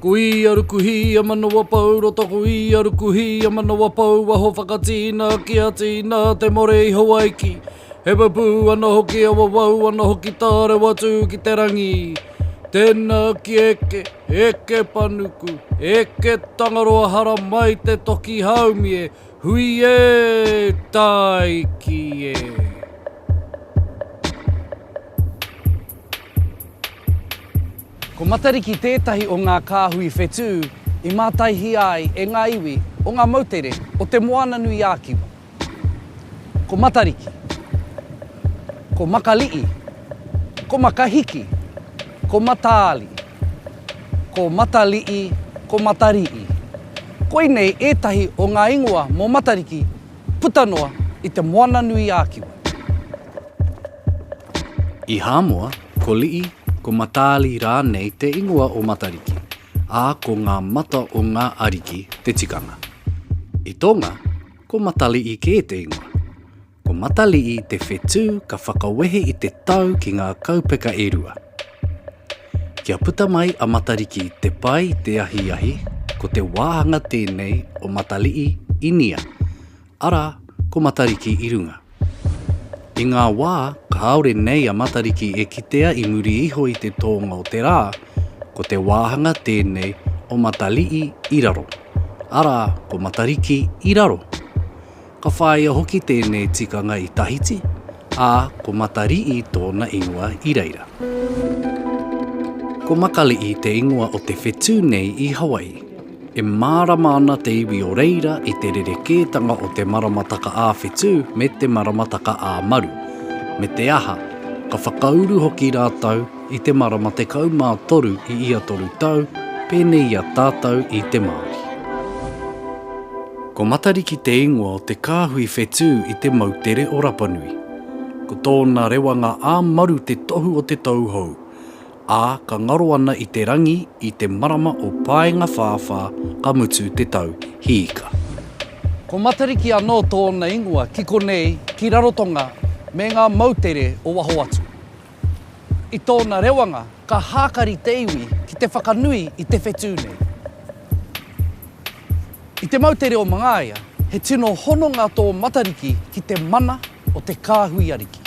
Ko ia ruku hī a Manawapou, roto ko ia ruku hī a Manawapou, waho whakatīna ki a tīna te more i Hawaiki. He pupū ana hoki a wawau ana hoki tā rewa tū ki te rangi. Tēnā ki eke, eke panuku, eke Tangaroa hara mai te toki haumie, hui ē, tāiki ē. Ko Matariki tētahi o ngā kāhui whetū i mātaihia ai e ngā iwi o ngā moutere o Te Moananui-a-Kiwa. Ko Matariki, ko Makali'i, ko Makahiki, ko Mataali, ko Matali'i, ko Matari'i. Koinei ētahi o ngā ingoa mō Matariki puta noa i Te Moananui-a-Kiwa. I Hāmoa, Ko Lii, ko Mataali rānei te ingoa o Matariki, ā, ko ngā mata o ngā ariki te tikanga. I Tonga, ko Matalii kē te ingoa. Ko Matalii te whetū ka whakawehe i te tau ki ngā kaupeka e rua. Kia puta mai a Matariki te pai te ahiahi, ko te wāhanga tēnei o Matalii, Inia. Arā, ko Matariki i runga. I ngā wā kāore nei a Matariki e kitea i muri iho i te tōnga o te rā, ko te wāhanga tēnei o Matali'i i raro, arā, ko Matariki i raro. Ka whāia hoki tēnei tikanga i Tahiti, Ā, ko Matari'i tōna ingoa i reira. Ko Makali'i te ingoa o te whetū nei i Hawaii. E mārama ana te iwi o reira i te rerekētanga o te maramataka ā-whetū me te maramataka ā-maru, me te aha, ka whakauru hoki rātou I te marama 13 i ia toru tau, pēnei i a tātou i te Māori. Ko Matariki te ingoa o te kāhui whetū i te moutere o Rapanui. Ko tōna rewanga ā-maru te tohu o te tauhou, ā, ka ngaro ana i te rangi i te marama o Paengawhāwhā ka mutu te tau hīka. Ko Matariki anō tōna ingoa ki konei, ki Rarotonga me ngā moutere o waho atu. I tōna rewanga, ka hākari te iwi ki te whakanui i te whetū nei. I te mau te reo Mangaia, he tino hononga tō Matariki ki te mana o te kāhui ariki.